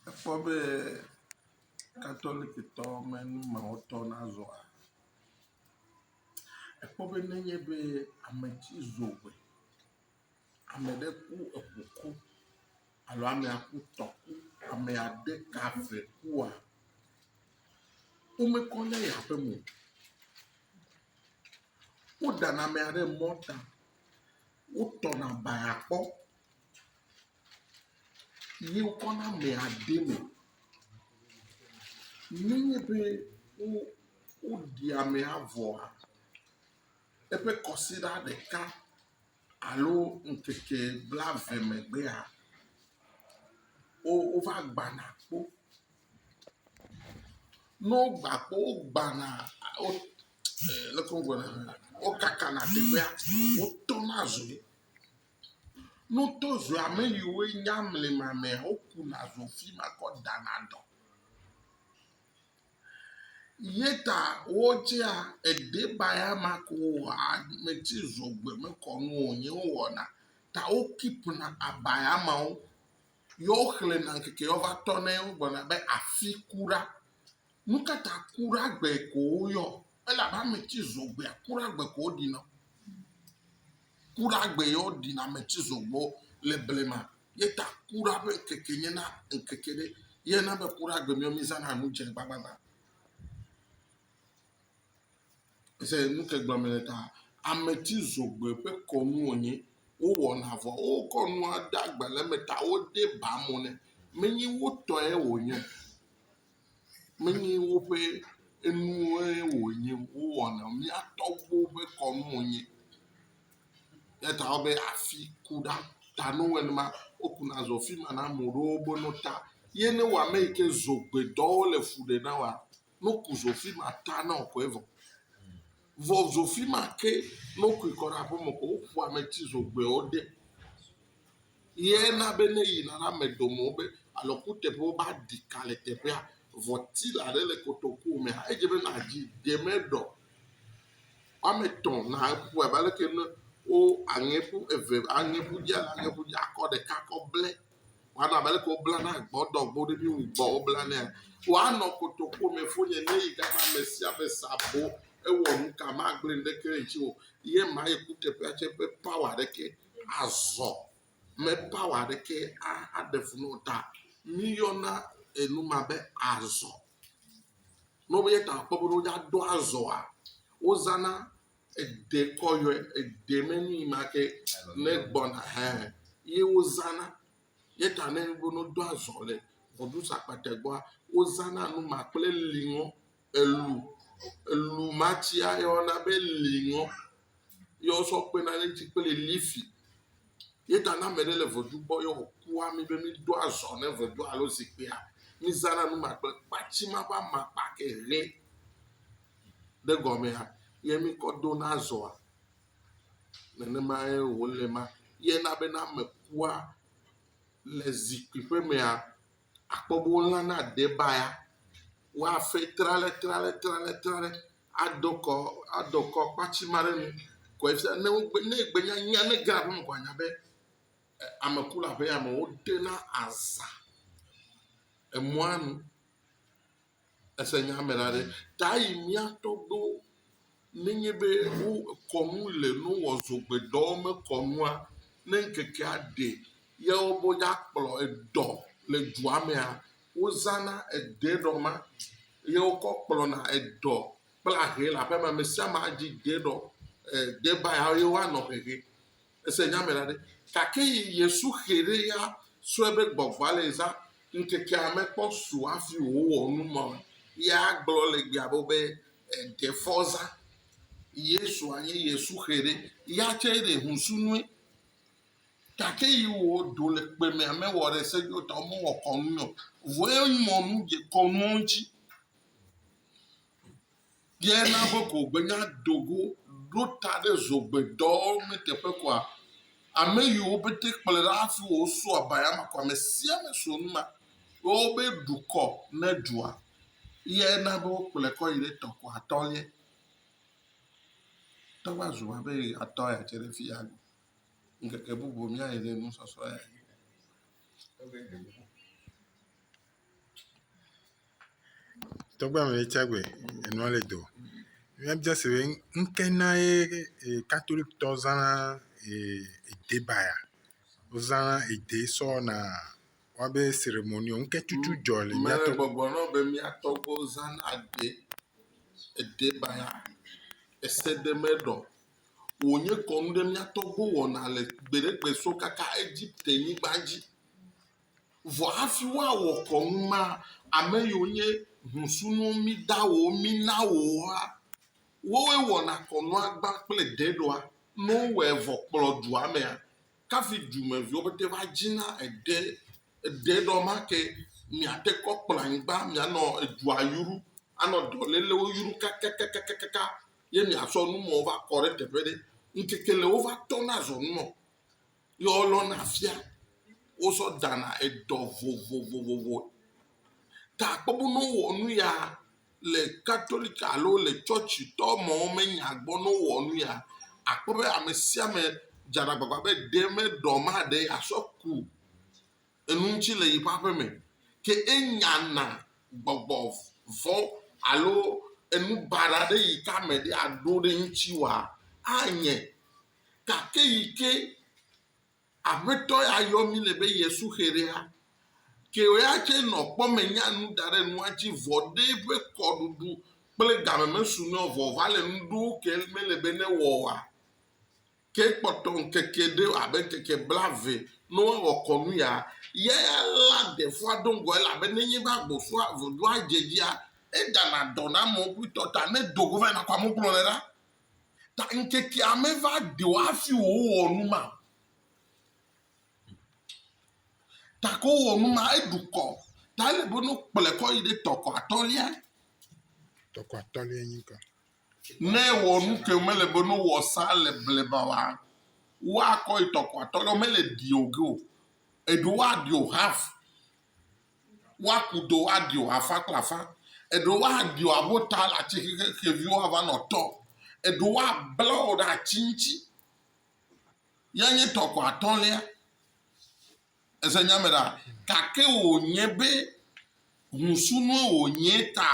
Ekpɔ be katolikitɔ me numewɔtɔ nazɔa, ekpɔ be nenye be ame tsi zo ƒe, ame ɖe ku eŋu ku alo amea ku tɔ ku, ame ade ka ve kua, womekɔ ne eya ƒe me o. Woɖana amea ɖe mɔta, wotɔna baa kpɔ. ye wokɔ na amea de eme. Nenye be wo woɖi amea vɔa eƒe kɔsiɖa ɖeka alo ŋkeke blave megbea wo wova gbana kpo. Ne wogba kpo wogbana a wo e leke wogblɔ ɖa wokakanɛ teƒea wotɔna zui. Nutozoe ame yiwo nye amlimame wokuna zo fi ma kɔ dana dɔ. Ye ta wotsea edebaya ma ko ame tsi zo gbe me kɔ nu o ye wowɔna ta wo kipna abaya mawo ye woxlẽna ŋkeke ye wova tɔna ye wogblɔna be afi ku ɖa. Nu ka ta kura gbe ko woyɔ? Ele abe ame ti zɔ gbea kura gbe ko wo ɖina. Kura gbe ye wo ɖina ame ti zɔ gbɔ le blema ye ta kura ƒe ŋkeke nye na ŋkeke ɖe ye na be kura gbe mía mizana nu dze gbagbagba. Ese nu ke gblɔm mele ta ame ti zɔ gbe ƒe kɔnu wonye. Wowɔna vɔ wokɔ nua de agbalẽ me ta wode ba mo nɛ menye wotɔe wonye o. Menye woƒe enuwoe wònye wowɔna o. Mía tɔgbuiwo ƒe kɔnu wònye. Eya ta wobe afi ku ɖa ta ne wowɔe nenema wokuna zɔ afi ma na ame ɖewo be no ta ye ne wɔ ame yi ke zogbedɔ wole fu ɖem na woa no ku zo afi ma ta na wò koe vɔ. Vɔ zo afi ma ke ne wokui kɔ ɖe aƒeme ko woƒo ame tsi zogbeawo de. Ye na be ne eyina la, ame ɖo mɔ be alɔ kuteƒe woba ɖi ka le teƒea. Vɔ tila ɖe le kotoku mea edze be na dzi ɖe me ɖɔ. Woame tɔ̃ na eƒu abe aleke ne wo aŋɛ ƒu eve aŋɛ ƒu dzi aŋɛ ƒu dzi akɔ ɖeka kɔ ble. Woana abe aleke wobla na gbɔ dɔ gbɔ ɖe mi wu gbɔ wobla nɛ. Woanɔ kotoku me fo nye ne yi gama ame sia ame sa bo ewɔ nuka magble ŋɖeke ŋtsi o. Ye ma ye kuteƒea tse ƒe power ɖeke Azɔ me pawa ɖekɛ aɖe fu na wo ta. Míyɔna enu ma be azɔ. Ne wobe ta akpɔ be woɖo aɖo azɔa, wozãna eɖe kɔ yɔe. Eɖe me nu yi ma ke ne gbɔna hã ye wozãna. Ye ta ne woɖo azɔ le Voduz akpatɛ gbɔa, wozãna nu ma kple liŋɔ. elu, elu ma tsia ye woyɔna be liŋɔ ye wosɔ kpena ɖe eŋuti kple lifi ye ta ne ame ɖe le ŋedu gbɔ ye wòku ami be mido azɔ ne ŋedua alo zikpuia, mizãna nu ma kple kpatsi ma ƒe amakpa ke ʋe ɖe egɔmea ye mikɔ dona azɔa. Nenemae wòle ema. Ye na be ne ame kua le zikpui ƒe mea, akpɔ be wolãna adebaya, woafe tralẽtralẽtralẽtralẽ adɔ kɔ adɔ kɔ kpatsi ma ɖe enu kɔe fia ne wogbe ne egbe nya nya ne ege ɖe aƒeme ko anya be e ame ku le aƒeame wodena aza emɔa nu. Ese nya me la ɖe? Ta yi mía tɔgbuiwo nenye be wo kɔnu le no wɔ zogbe dɔ me kɔnua, ne ŋkekea ɖe ya wo be woa kplɔ edɔ le dua mea, wo zana ede ɖɔ ma ye wo kɔ kplɔ na edɔ kple ahe le aƒe ma. Ame sia ame adzi de ɖɔ, eh, de ba ya ye woa nɔ hehe. Ese nya me la ɖe? Gake yi Yesu xe ɖe ya sɔe be gbɔgbɔa le zã ŋkekea me kpɔ su afi wòwɔ nu ma ya gblɔ le gbea bo be eɖe fɔ zã. Yesua nye Yesu xe ɖe ya tse ɖe husu nue. Gake yi wò do le kpe me ame wɔ ɖe se yo ta ɔme wɔ kɔnu yɔ. Vɔe mɔ nu dze kɔnuɔ ŋtsi. Ye na be ko gbe nya do go ɖo ta ɖe zogbe dɔ me teƒe koa? Ame yi wo bete kple ɖe afi wo so abaya ma koa? Mesia me so nu ma wo be ɖu kɔ ne dua. Ye na be wo kple kɔ yi ɖe tɔ ko atɔ lie. Tɔ va zo abe atɔ ya tse ɖe fi ya go. Ŋkeke bubu mia yi ɖe nu sɔsɔ ya. Tɔgbe ame ɖe tsa gbe enua le do. Mía dza se be ŋke na ye katolikitɔ zãna ede ba ya. Wo zãna ede sɔ wɔna woabe seremoniwo. Ŋke tutu dzɔ le mía to. Gbɔgblɔ na wo be mía tɔgbuiwo zãna ede ede ba ya. Ese ɖe me ɖɔ. Wo nye kɔnu ɖe mía tɔgbuiwo wɔna le gbeɖegbe so kaka Egipte nyigba dzi. Vɔ hafi woawɔ kɔnu ma, ame yiwo nye hũsunuwo mida wò wo mina wò woa, woe wɔna kɔnua gbã kple ɖeɖɔa. Ne wowɔe vɔ kplɔ dua mea, kafi dumeviwo pete va dzina eɖe ɖeɖɔ ma ke miate kɔ kplɔ anyigba mianɔ edua yru anɔ dɔlélewo yru kakakakaka ye miasɔ numɔwo va kɔ ɖe teƒe ɖe. Ŋkeke le wova tɔna zɔnumɔ. ye wolɔna fia, wozɔ ɖana edɔ vovovovovo. Ta akpɔ be ne wowɔ nu ya le Katolik alo le tsɔtsitɔ mawo me nya gbɔ ne wowɔ nu ya, akpɔ be ame sia ame dzena agbagba be ɖe meɖɔ maɖe yeasɔ ku enu ŋuti le yeƒe aƒe me. Ke enyana gbɔgbɔ vɔ̃ alo enu baɖa ɖe yi ke ame ɖe aɖo ɖe eŋuti wòa, anye gake yi ke aƒetɔ ya yɔ mí le be ye suxe ɖea, ke ya tsɛ nɔ kpɔ me nya nu da ɖe nua dzi vɔ ɖe eƒe kɔɖuɖu kple game mesu nɛ o vɔ wòva le nu ɖewo ke mele be newɔ oa? Ke kpɔtɔ ŋkeke ɖe abe ŋkeke blaeve ne woawɔ kɔnu ya, ya ya la ɖefoa do ŋgɔ elabe nenye be agbɔsɔa vodoa dze edzia, edana dɔ na amewo kpli tɔ ta ne do go va yina kɔ amewo kplɔnɛ ɖa. Ta ŋkekea meva ɖi o hafi wòwɔ nu ma. Ta ko wɔ nu ma, eɖu kɔ. Ta ele be no kplɔe kɔ yi ɖe tɔkɔ atɔ̃lia. Tɔkɔ atɔ̃lia nyi ka? Ne ewɔ nu ke mele be no wɔ sa le blema wa, woakɔ yi tɔkɔ atɔ̃lia, mele ɖi o ge o. Eɖo woaɖi o hafi. woaku do aɖio afã kple afã, eɖewo woaɖio abo ta le ati xexeviwo ava nɔ tɔ, eɖewo woabla wo ɖe ati ŋuti. Ya nye tɔ ko atɔ̃lia. Ese nya me ɖa? Gake wònye be ŋusunue wònye ta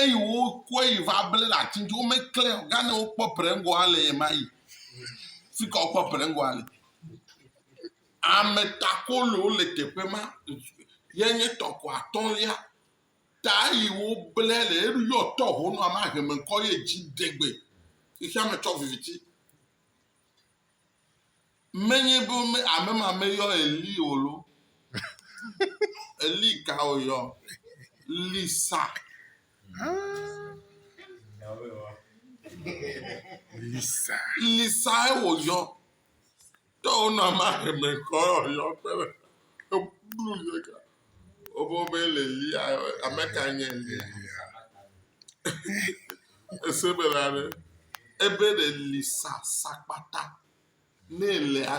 eye wokɔe yi va ble le ati ŋuti. Womeklẽ o. Gane wokpɔ Prengo ale ye ma yi. Fi ka wokpɔ Prengo ale? Ametakolowo le teƒe ma, ye nye tɔ ko atɔ̃lia, ta yi wo ble le eɖo yɔ tɔ ho nɔ ama heme ŋkɔ ye dzi degbe. Xexea me tsɔ viviti. Menye be me ame ma me yɔ Eli o lo. Eli ka o yɔ? Lisa. Lisa. Lisa e wo yɔ. Tɔwona ma heme kɔ yɔ kpe ɖe eblu yɔ ka. Wobo be le lia ame ka nye le lia. Ese be la ɖe ebe le li sa sakpata ne le a.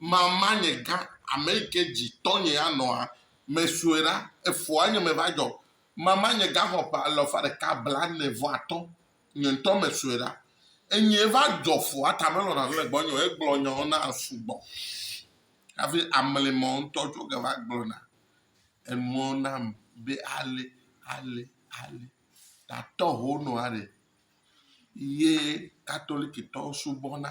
Mama nye gã, ame yi ke dzi tɔnye anɔa, mesue ɖa, efoa nye meva dzɔ. Mama nye gã xɔ ƒe alafa ɖeka blaene-vɔ-atɔ̃, nye ŋutɔ mesue ɖa. Enyee va dzɔ foa ta melɔ̃ nane le gbɔnye o, egblɔ nyawo na sugbɔ hafi amli me ŋutɔ tso ge va gblɔna enuwo nam be ale, ale, ale. Tatɔ hono aɖe ye Katolikitɔwo subɔna.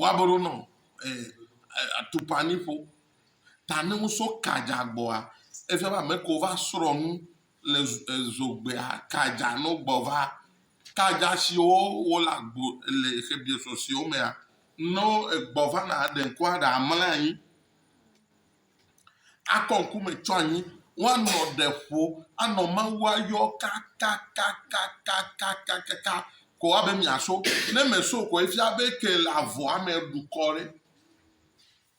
Woaboɖo nɔ e e atukpaniƒo ta ne wosɔ ka dza gbɔa, efia be ame kewo va srɔ̃ nu le zo e zogbea ka dza no gbɔ va. Ka dza siwo wole agbo le xebiɔsɔsɔewo mea, no egbɔ va na ɖe ŋkua ɖe amlɛ anyi. Akɔ ŋku me tso anyi, woanɔ ɖe ƒo, anɔ Mawu ayɔ kakakakakakakaka ko abe miaso. Ne mèso ko efia be ke le avɔa me eɖu kɔ ɖe.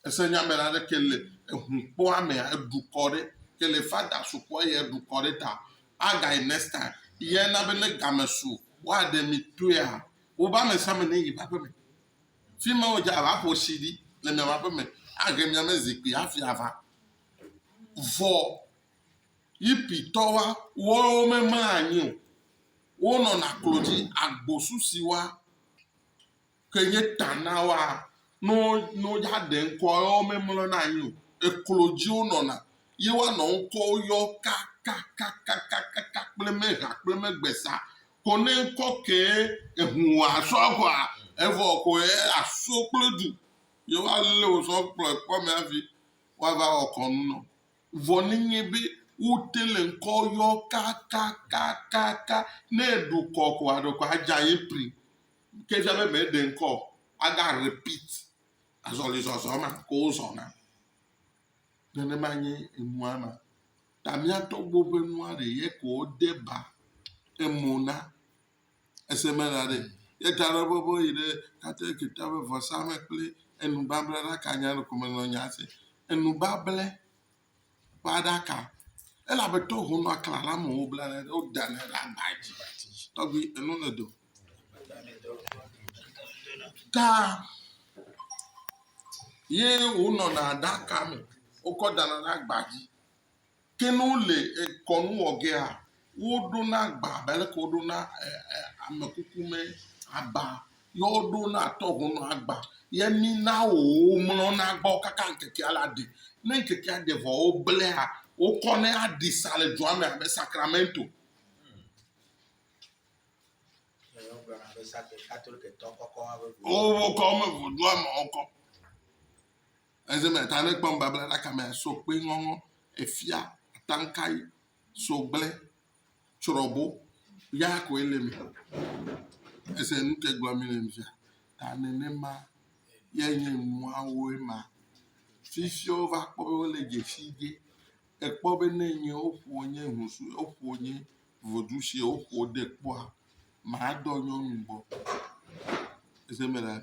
Ese nya me la ɖe ke le ehukpɔa me eɖu kɔ ɖe. Ke le fada so kɔa ye eɖu kɔ ɖe ta. Agayi next time. Ye na be ne game so woaɖe mi toea wobe amesiame ne yi ƒe aƒeme. Fi ma wodze abe aƒo tsi ɖi le miaƒe aƒe me, ahe mia me zikpui hafi ava. Vɔ Yipitɔwoa, woawo memaa anyi o, wonɔna klo dzi. Agbosu si woa ke nye ta na woa, ne wo, ne wodze aɖe ŋkɔ ye womemlɔna anyi o. Eklo dzi wonɔna ye woanɔ ŋkɔwo yɔm kakakakakaka kple megha kple megbesa Ko ne ŋkɔ kee ehun wɔ asɔ agɔa, evɔ ko ye aso kple du, ye wa le wo sɔ kplɔe kpɔ mɛ avi wa va wɔ kɔnu nɔ. Vɔ ne nye be wo te le ŋkɔ yɔ kakakakaka, ne eɖu kɔ ko aɖe ko adja ye pri. Ke fia be mɛ ɖe ŋkɔ o, aga repeat azɔli zɔzɔ ma ko wo zɔna. Nenema nye enua ma. ta miatɔgbo ƒe nua ɖe ye ko wode ba emo na. Ese me la ɖe ye ta ɖe bɔbɔ yi ɖe Katolika ƒe vɔsa me kple enubabla ɖaka nya ɖe ko menɔ nya se. Enubable ƒe aɖaka elabe to honu akla la me wobla ne ɖe woda ne ɖe agba dzi. Tɔgbi enu le do. Ta ye wonɔna aɖaka me wokɔ dana ɖe agba dzi. Ke ne wole kɔnu wɔ gea, woɖona agba abe aleke woɖona amekukume agba ye woɖona tɔhonɔ agba ye mina wòwo mlɔna gbɔ kaka ŋkekea la ɖe. Ne ŋkekea ɖe vɔ woblae wokɔnɛ aɖi sa le dua me abe sakramento. Wokɔ eme ŋu dua me wokɔ. Eze me ta ne kpɔ nubabla ɖaka me so kpe ŋɔŋɔ efia atankai so gblẽ tsrɔbo ya koe le me. Ese nu ke gblɔ mi le mfia ta nenema ye nye nuawo ema. Fifiwo va kpɔ be wole dze fi ge ekpɔ be ne nye woƒo nye husu woƒo nye vodu si woƒo de kpɔa madɔ nyɔnu gbɔ. Ese me la.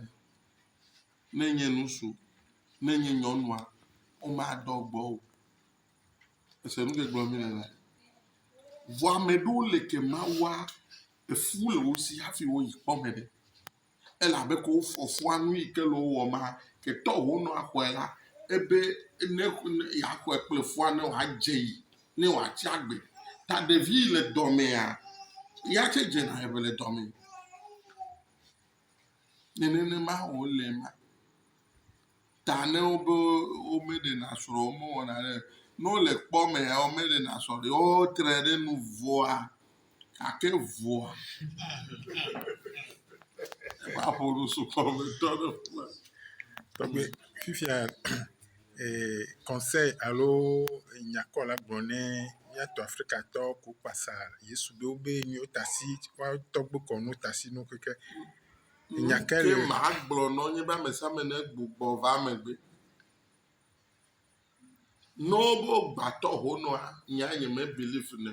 ne nye ŋutsu, ne nye nyɔnua, womadɔ gbɔ o. Ese nu si gblɔm mele ema? Vɔa ame aɖewo le ke ma wa efu le wo si hafi woyi kpɔ ame ɖe. Ele abe ke wo fɔfɔa nu yi ke le wo wɔm ma ke tɔ ho nɔ axɔe la ebe ne ne yeaxɔe kple fua ne wòadze yi ne wòatsi agbe. Ta ɖevi yi le dɔmea ya tse dzena eme le dɔme. Ne nenema wòle ma, ta ne wobe womeɖena srɔ̃ o, womewɔna ɖe o. Ne wole kpɔ mea, womeɖena srɔ̃ ɖe o. Wotre ɖe nu vɔ̃a gake vɔ̃a maƒo nu sukɔ me tɔ ɖe ƒua. Tɔgbe fifia conseil alo nya kɔ la gblɔ ne míato Afrikatɔ ko kpasa Yesu ɖo be míwo tasi tɔgbe kɔ no tasi no keke. Nya ke le. Ke maa gblɔ nɔ nye be amesiame ne gbugbɔ va megbe. Nɔ bo gbatɔ ho nɔa, nya nye me believe nɛ.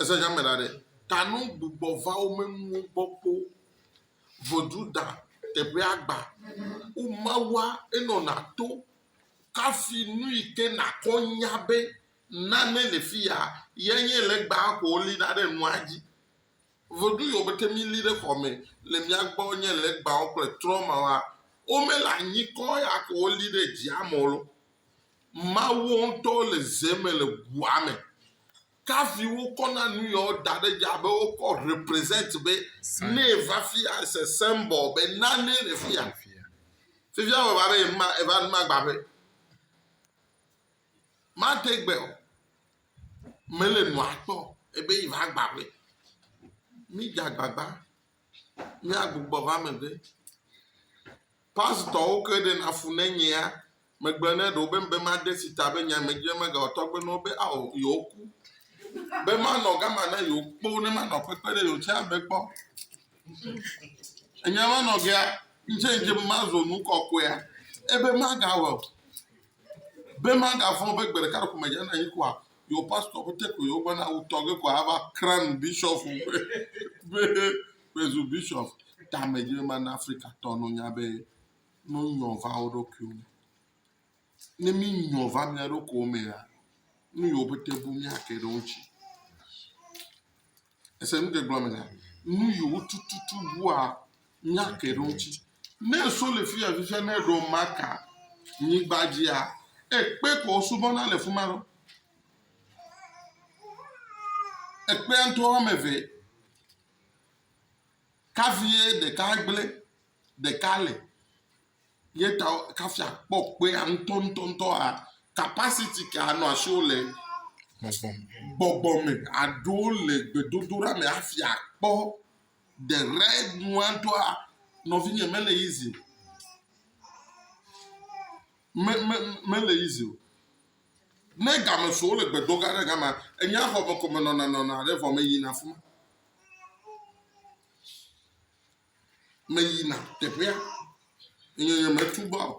Ese nya me la ɖe, ta no gbugbɔ va wo menuwo gbɔ kpo. Vodzu da teƒea gba. Wo mawua enɔ na to kafi nu yi ke na kɔ nya be nane le fi ya ye nye le gba ko li da ɖe nua dzi. Ŋɔdru yɔ beke mi li ɖe xɔme le mia gbɔ nye legbawo kple trɔmawa wo me le anyi kɔ ya ko wo li ɖe dzia me wo lo. Mawuwo ŋutɔ le ze me le ŋua me. Kafi wo kɔ na nu yɔ wo da ɖe dzi abe wo kɔ represent be ne va fia se symbol be nane le fia. Fifia wo va be ma eva ma gba ƒe. Made gbe o, mele nua kpɔ ebe yi va gba ƒe. Mi dze agbagba, mia gbugbɔ va megbe. Pasitɔwo ke ɖe na fu ne nyea, me gblɔ ne ɖewo be, be made si ta be nya me dzi be mega wɔ tɔgbe ne wo be ao yewo ku. Be ma nɔ gama ne yewo kpɔ wo ne ma nɔ kpekpe ɖe yewo tsã be kpɔ. Enya ma nɔ gea, ŋtsɛ ŋtsɛ be ma zo nu kɔkɔea, ebe ma ga wɔ. be magavɔ̃ be gbe ɖeka ɖeko medzana anyi koa, yewo pastor ƒe te koe wogblɔ na wutɔ ge koa ava crown bishop ƒe be mezu bishop. Ta medzi be mana Afrikatɔ no nya be no nyɔ va wo ɖokuiwo me. Ne mi nyɔ va mia ɖokuiwo mea, nu yiwo pete bu mia ke ɖe wo ŋuti. Ese nu ke gblɔ mena? Nu yiwo tututu ŋua nya ke ɖe ŋuti. Ne so le fi ya fifia ne ɖo maka nyigba dzia, ekpe ko wosubɔna le fi ma ɖo. Ekpea ŋutɔ wɔme eve. Kavie ɖeka gblẽ, ɖeka le. Ye ta kafi akpɔ kpea ŋutɔŋutɔŋutɔ a capacity ke anɔ asiwo le gbɔgbɔ me aɖo le gbedodoɖa me hafi akpɔ the right nua doa nɔvinye mele easy o. Me, me, mele easy o. Ne game so wole gbedo gã ɖe gama, enye xɔ me ko menɔna nɔna ɖe vɔ meyina afi ma. meyina teƒea eye nyemesubɔ o.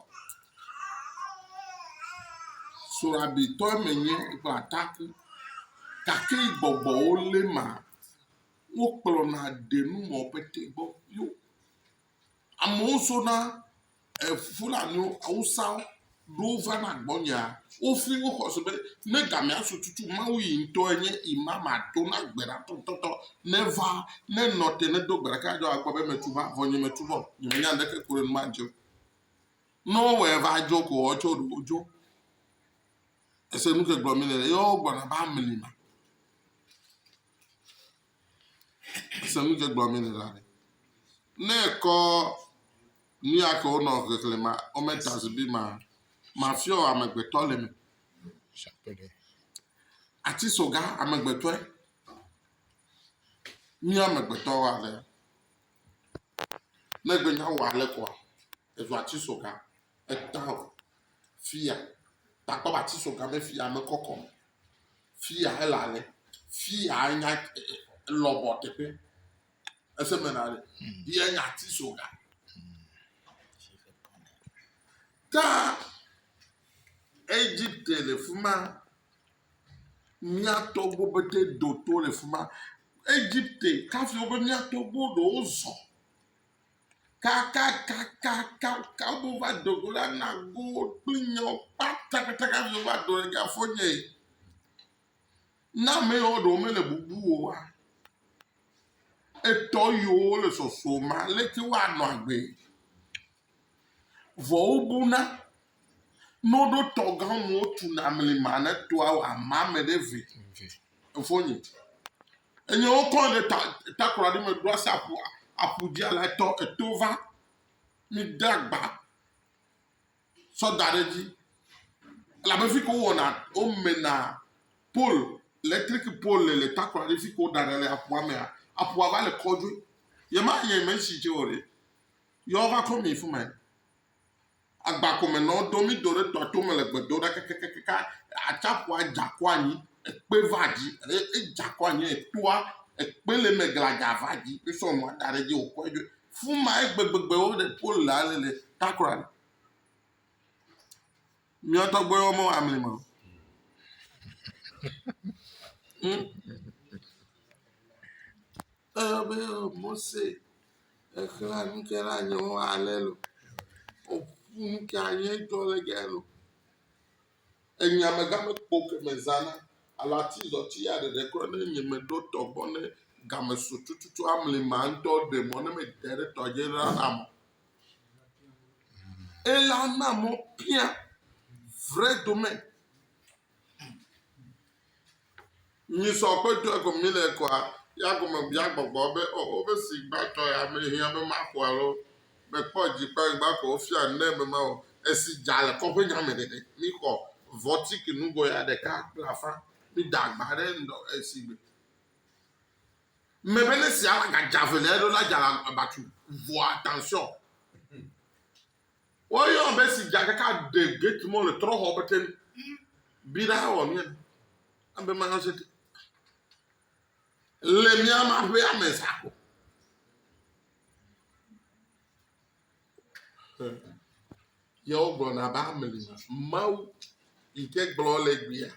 Srɔ̃ɖetɔe menye kple atakpui gake yi gbɔgbɔwo lé ma, wokplɔna ɖe nuwɔƒe te gbɔ yo. Amewo sona Fulaniwo, Awusawo ɖo va na gbɔnyea, wofli wo xɔse be, ne gamea su tutu Mawu yi ŋutɔ enye ima mato na gbe ɖa tɔtɔtɔ neva, ne nɔ te ne do gbe ɖeka adzɔ akpɔ be metu va, vɔ nye metu vɔ, nye menya ŋɖeke ku ɖe nu ma ŋuti o. Ne wowɔe va dzo ko woawo tsɛ woɖo wodzo. Ese nu ke gblɔ mi le, ye wogbɔna va amli ma. Ese nu ke gblɔ mi le la ɖe. Ne ekɔ nu ya ke wonɔ xexlẽ ma, wome ta zibi ma, mafiɔ amegbetɔ le me. Ati soga amegbetɔe. Mí amegbetɔwo ale. Ne gbenya wɔ ale kɔa. Evea tsi so ga, eta o. Fia, takpɔ ba tsi so ga me fia me kɔkɔ. Fia ele ale. Fia enya lɔbɔ teƒe. Ese me na ale. Ye nya tsi so ga. Ta Egypte le fuma. Mia to go bete do to le fuma. Egypte, kafi obe mia to go do ozo. kakakakaka wova do go la na go kple nyawo kpata kata kata mi va do ɖe afɔ nye na ame yawo ɖewo mele bubu o wa etɔ yiwo le sɔsrɔ̃ ma leke woanɔ agbe vɔ wobuna Noɖo tɔ gã mɔ tu na mli ma ne to awo ama me ɖe ve. Efo nye. Enye wo kɔn ɖe ta ta kura ɖe me ɖo asa apu apu dzi ala tɔ eto va. Mi de agba. Sɔ da ɖe dzi. La be fi ko wɔ na o me na pol electric pol le le ta kura ɖe fi ko da ɖe le apu ame a apu ava le kɔdwe. Yema yeme si je o re. Yɔ va kɔ mi fuma. Agbakɔmenɔwo do mí do ɖe tɔa tome le gbe do ɖa kakakaka, atsaƒua dza kɔ anyi, ekpe va dzi, edza kɔ anyi, etoa, ekpe le eme gladzaa va dzi, mí sɔ nua da ɖe edzi wò kɔe ɖo. Fima ye gbegbegbe wo le pole la le le takora ɖe. Mía tɔgbe wo me wa amli ma. Hmm. Ebe Mose exlẽ nu ke na nyewo ale lo. Woƒu nu ke anyi edzɔ le ge lo. Enya mega me kpo ke me zãna. Ala ti zɔ ti ya ɖeɖe kɔ ne nye me ɖo tɔ gbɔ ne game so tututu amli ma ŋtɔ ɖe mɔ ne me de ɖe tɔ dzi la na mɔ. Ela na mɔ pia vre dome. Nyisɔ ƒe dua gɔme mi le kɔa, ya gɔme bia gbɔgbɔ be o o be si gba tɔ ya me hiã be ma xɔ alo me kpɔ dzi kpe ŋgba ko o fia ne me ma o. Esi dza le kɔƒe nya me ɖeɖe. Mi xɔ vɔtiki nugo ya ɖeka kple afã. Mi da gba ɖe ŋdɔ esi gbe. Me be ne sia la ga dza vele eɖo la dza la abatu vɔa tension. Woyɔ ame si dza ɖeka ɖe gate mɔ le trɔxɔ be ten bi ɖa wɔ mía abe ma yɔ se te. Le mía ma ƒe ame sakɔ. Yewo gblɔna be ame li Mawu yi ke gblɔ le gbea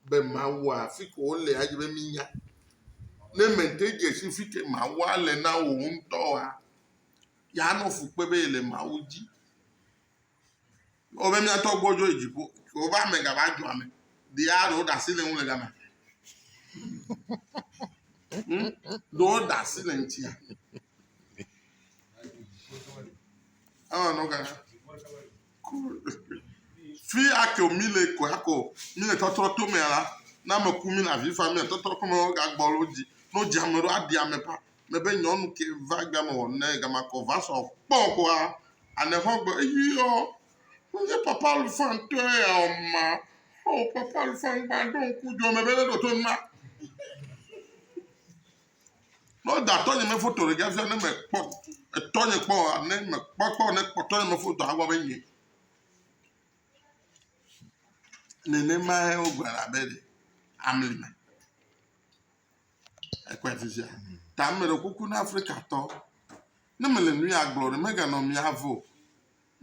be Mawu afi ko wole adzi be minya. Ne mente dze si fi ke Mawu le na wò ŋutɔ wa. yeanɔ fu kpe be yele Mawu dzi. Wobe mía tɔ gbɔdzɔ yi dziƒo. Wobe ame gava dzɔ ame. Ɖea ɖewo ɖe asi le ŋu le gama. Hmm? Ɖewo ɖe asi le ŋutia. Ewɔ nɔ gana. Fi ake o mí le ko ya ko mí le tɔtrɔ to mea la, ne ame ku mí le avi fam mí le tɔtrɔ ko me wo ga gbɔ lo dzi. Ne wo dzi ame ɖo aɖi ame ƒã. Me be nyɔnu ke va ga me wɔ ne ga ma kɔ va sɔ kpɔ kɔa ane xɔ gbɔ eyi yɔ. Wo nye papa lu fã ŋtɔ ya o ma. O papa lu fã ŋgba ɖo ŋku djo me be ne ɖo to ŋma. Ne woda tɔnye me foto ɖe fia ne mekpɔ etɔnye kpɔ oa, ne mekpɔ kpɔ ne kpɔ tɔnye me foto agblɔ be nye. Nenemae wogblɔ abe ɖe amli me. Ekpɔ afi sia. Ta meɖe kuku na Afrikatɔ. Ne mele nu ya gblɔ ɖe meganɔ mia vo.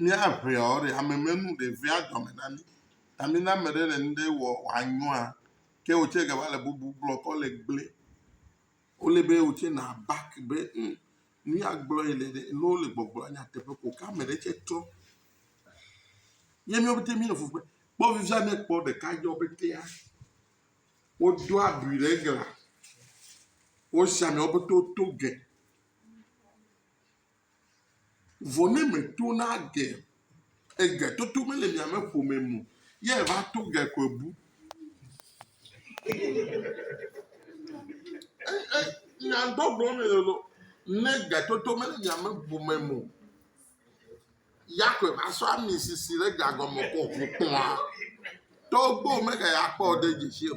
Míaŋeɔ, ɖe ame menu ɖe vea dɔme na mí. Ta mí ne ame ɖe le nuɖe wɔ wòanyɔa, ke wò tsɛ gava le bubu gblɔ kɔ le gble. Wole be wò tsɛ nàback be ŋ, nu ya gblɔ yele ɖe, ne wole gbɔgblɔ nyateƒe ko ke ame ɖe tsɛ trɔ. Ye míawo ƒete míele fu kpem. Kpɔ fifia ne ekpɔ ɖeka dzɔ ƒetea, wodo abi ɖe glã. Wosi amewo ƒete woto ge. Vɔ ne meto na ge, ege toto mele mia me ƒome mo, ye va to ge koe bu. E, e, nya gbɔgblɔ me lolo, ne ge toto mele mia me ƒome mo, ya koe va sɔ ami sisi ɖe ga gɔme kɔ ƒo kpɔa. Togbo mege ya kpɔ de dzi o.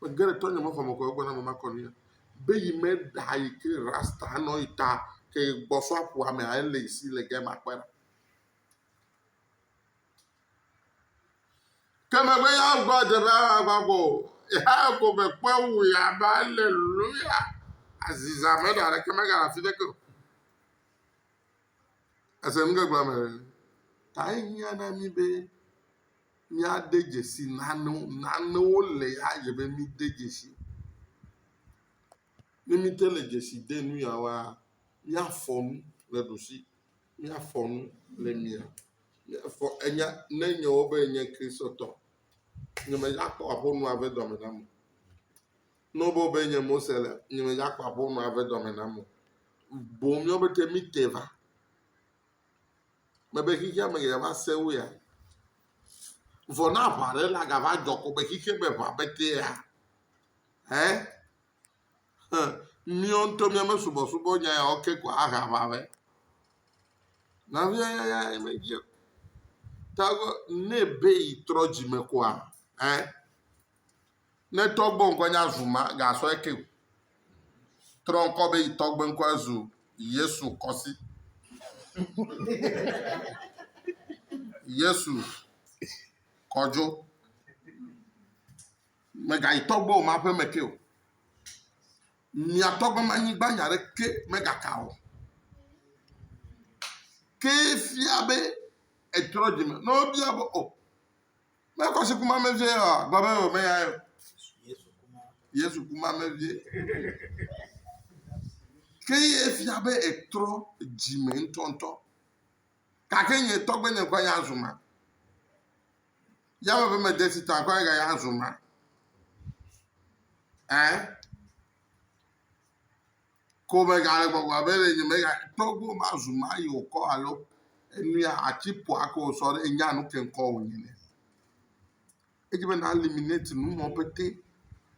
Megé ɖe tɔnyɔ me xɔme kɔ egbɔ na mama kɔnɔ ya be yi me ɖa yi ke rasta nɔ yi ta ke gbɔsɔ aƒua me a ele yi si le gɛ ma kpɔe. Ke megbe ya gbɔ dze be agba gbɔ ya ko me kpɔ wu ya ba le lu ya aziza me ɖa ɖeke me ga la fi de ke. Ese nu ke gblɔ me. Ta yi nya na mi be míade dzesi nanewo, nanewo le ya dze be míde dzesi. Ne míte le dzesi de nu ya woa, míafɔ nu le ɖusi, míafɔ nu le mia, míafɔ enya ne enye wɔ be enye Kristotɔ. Nye medzakpɔ aƒonɔa ƒe dɔme nam o. Ne wɔ be wɔ be enye Mose le, nye medzakpɔ aƒonɔa ƒe dɔme nam o. Boŋ míawo pɛtɛ míte va Mebe xexea me geɖe va sẽ wo ya. Vɔ ne aʋa ɖe la gava dzɔ ko be xexea me ʋa petea, hɛ, hẽ, míawo ŋutɔ míame subɔsubɔ nya yawo ke ko ahe aʋa vɛ. Nɔvia yaya ye medzi o. Ta ne ebe yi trɔ dzime koa, hɛ, Ne tɔgbe ŋkɔ nye Azuma, gasɔ eke o. Trɔ ŋkɔ be yi tɔgbe ŋkɔe zu Yesu kɔsi. Yesu kɔdzo. Megayi tɔgbe o ma ƒe me ke o. Mia tɔgbe ma nyigba nya ɖe ke megaka o. Ke fia be etrɔ dzime. Ne wobia be o. Ne ekɔ si kuma me vie oa, gblɔ be wòme ya o. Yesu kuma me vie. Ke ye fia be etrɔ dzime ŋutɔŋutɔ. Gake nye tɔgbe nye ŋkɔ ya zu ma. Yame ƒe mede si ta ŋkɔ ya ya zu ma. Ɛɛ. Ko megale gbɔgblɔm be le nye megakpɔ gbɔ mazu ma yi wòkɔ alo enui ati ƒoa ke wòsɔ ɖe nya nu ke ŋkɔ wònyi ne. Edze be na eliminate nu mɔ pete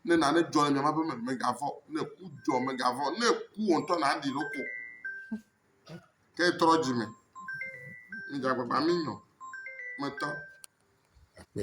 ne nane dzɔ le miama be me megavɔ ne ku dzɔ megavɔ ne ku wò ŋutɔ na ɖi ɖoko. Ke trɔ dzi me. Midze agbagba mi nyɔ. Metɔ. Akpɛ.